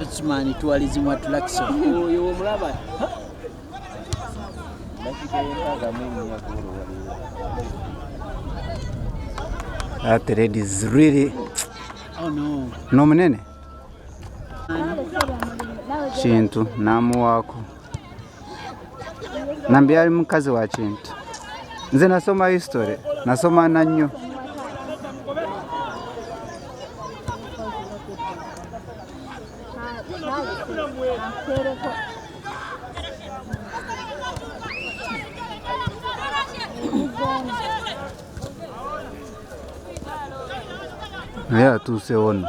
Okimanyi tuwalizimwa tulakisa oyo omulaba That lady is really oh, no. no munene kintu namuwaako nambi yali mukazi wa kintu nze nasoma history nasoma na nnyo naye atuuse ono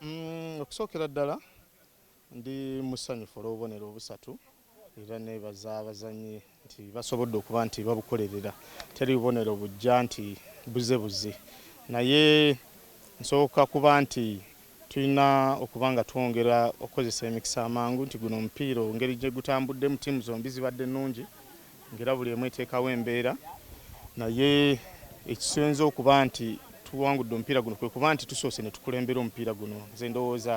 Mm, okusookera ddala ndi musanyufu olw'obubonero obusatu era nebaza abazannyi nti basobodde okuba nti babukolerera teri bubonero bujja nti buze buze naye nsooka kuba nti Tulina okuba nga twongera okukozesa emikisa amangu nti guno omupiira engeri gye gutambuddemu ttiimu zombi zibadde nnungi ng'era buli emu eteekawo embeera naye ekisinze okuba nti tuwangudde omupiira guno kwe kuba nti tusoose ne tukulembera omupiira guno. Nze ndowooza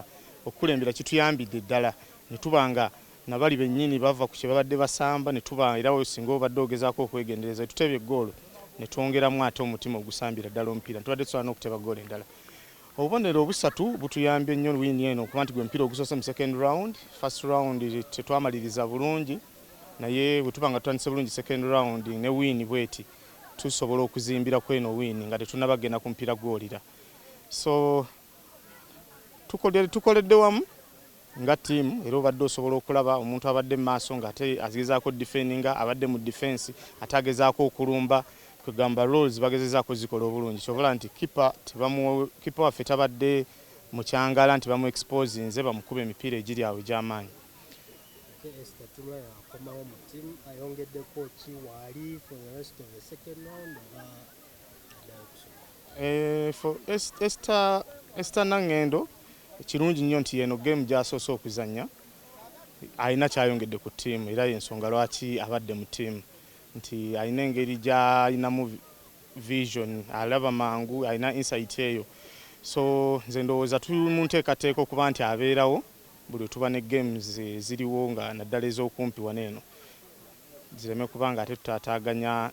okukulembera kituyambidde ddala ne tuba nga na bali bennyini bava ku kye babadde basamba ne tuba era singa obadde ogezaako okwegendereza we tuteebye ggoolo ne twongeramu ate omutima ogusambira ddala omupiira tubadde tusobola n'okuteba ggoolo endala. Obubonero obusatu butuyambye nnyo wiini eno okuba nti gwe mupiira ogusoose mu second round. First round tetwamaliriza bulungi naye bwe tuba nga tutandise bulungi second round ne wiini bweti tusobola okuzimbira ku eno wiini nga tetunnaba kugenda ku mupiira gwolira. So tukoledde wamu. Nga ttiimu era obadde osobola okulaba omuntu abadde mu maaso ng'ate agezaako oddifendinga, abadde mu difensi ate agezaako okulumba, kwe kugamba roles bagezezaako ozzikola obulungi ky'ova olaba nti kippa tebamu, kippa waffe tabadde mukyangaala nti bamu exposinze bamukuba emipiira egiri awo egy'amaanyi. Ate Esther Tumwa yakomawo mu ttiimu ayongeddeko ki waali for the rest of the second round oba? Eh, for Esther, Esther Nangendo kirungi nnyo nti eno game gyasoose okuzannya alina kyayongedde ku ttiimu era yensonga lwaki abadde mu ttiimu nti alina engeri gyalinamu vision alaba mangu alina insight eyo so nze ndowooza tuli mu nteekateeka okuba nti abeerawo buli wetuba ne games ziriwo nga naddala ez'okumpi wano eno zireme kuba ng'ate tutaataaganya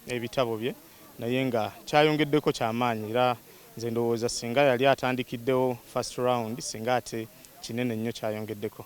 ebitabo bye naye nga kyayongeddeko kya maanyi era nze ndowooza ssinga yali atandikiddewo first round ssinga ate kinene nnyo kyayongeddeko.